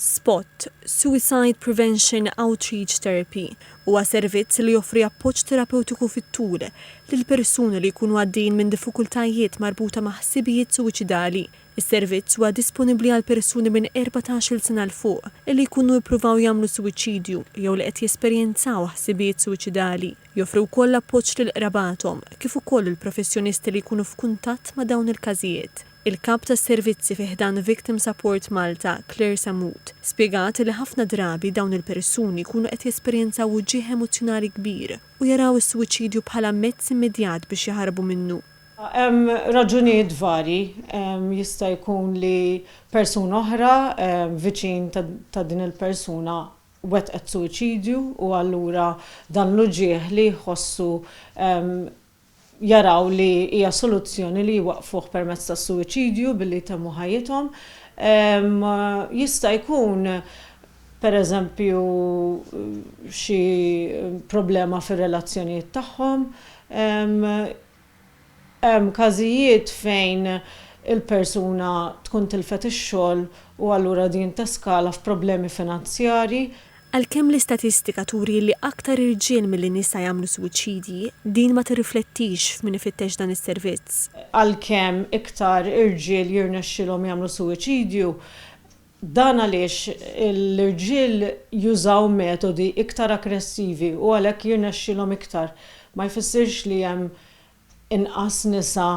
Spot, Suicide Prevention Outreach Therapy, huwa servizz li joffri appoġġ terapewtiku fit-tul lil persuni li jkunu għaddejjin minn diffikultajiet marbuta ma' ħsibijiet suwiċidali. Is-servizz huwa disponibbli għal persuni minn erbatax-il sena 'l fuq li jkunu ippruvaw jagħmlu suwiċidju jew li qed jesperjenzaw ħsibijiet suwiċidali. Joffri wkoll appoġġ lil qrabathom, kif ukoll lill-professjonisti li jkunu f'kuntatt ma' dawn il-każijiet. Il-Kap tas-Servizzi fi ħdan Victim Support Malta, Claire Sammut, spjegat li ħafna drabi dawn il-persuni jkunu qed jesperjenzaw uġigħ emozzjonali kbir u jaraw is-suwiċidju bħala mezz immedjat biex jaħarbu minnu. Hemm raġunijiet varji, jista' jkun li persuna oħra viċin ta' din il-persuna wettqet suwiċidju u allura dan l-uġigħ li jħossu jaraw li hija soluzzjoni li jwaqqfuh permezz tas-suwiċidju billi jtemmu ħajjithom. Jista' jkun pereżempju xi problema fir-relazzjonijiet tagħhom. Hemm każijiet fejn il-persuna tkun tilfet ix-xogħol u allura din teskala f'problemi finanzjarji. Għalkemm l-istatistika turi li aktar irġiel milli nisa jagħmlu suwiċidji, din ma tirriflettix f'min ifittex dan is-servizz. Għalkemm iktar irġiel jirnexxilhom jagħmlu suwiċidju, dan għaliex l-irġiel jużaw metodi iktar aggressivi u għalhekk jirnexxilhom iktar, ma jfissirx li hemm Inqas nisa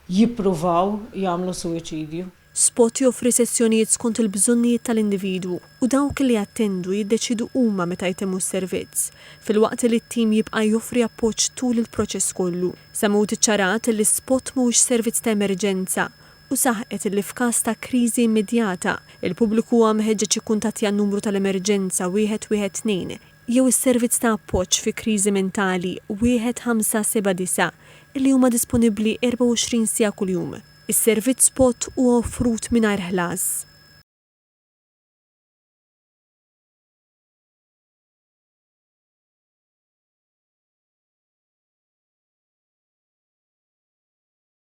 jippruvaw jagħmlu suwiċidju. Spot joffri sessjonijiet skont il-bżonnijiet tal-individwu u dawk li jattendu jiddeċiedu huma meta jtemmu s-servizz, filwaqt li t-tim jibqa' joffri appoġġ tul il-proċess kollu. Sammut iċċarat li Spot mhuwiex servizz ta' emerġenza u saħqet li f'każ ta' kriżi immedjata, il-pubbliku huwa mħeġġeġ jikkuntattja n-numru tal-emerġenza 112 jew is-servizz ta' appoġġ fi kriżi mentali 1579 li huma disponibbli 24 siegħa kuljum. Is-servizz spot huwa offrut mingħajr ħlas.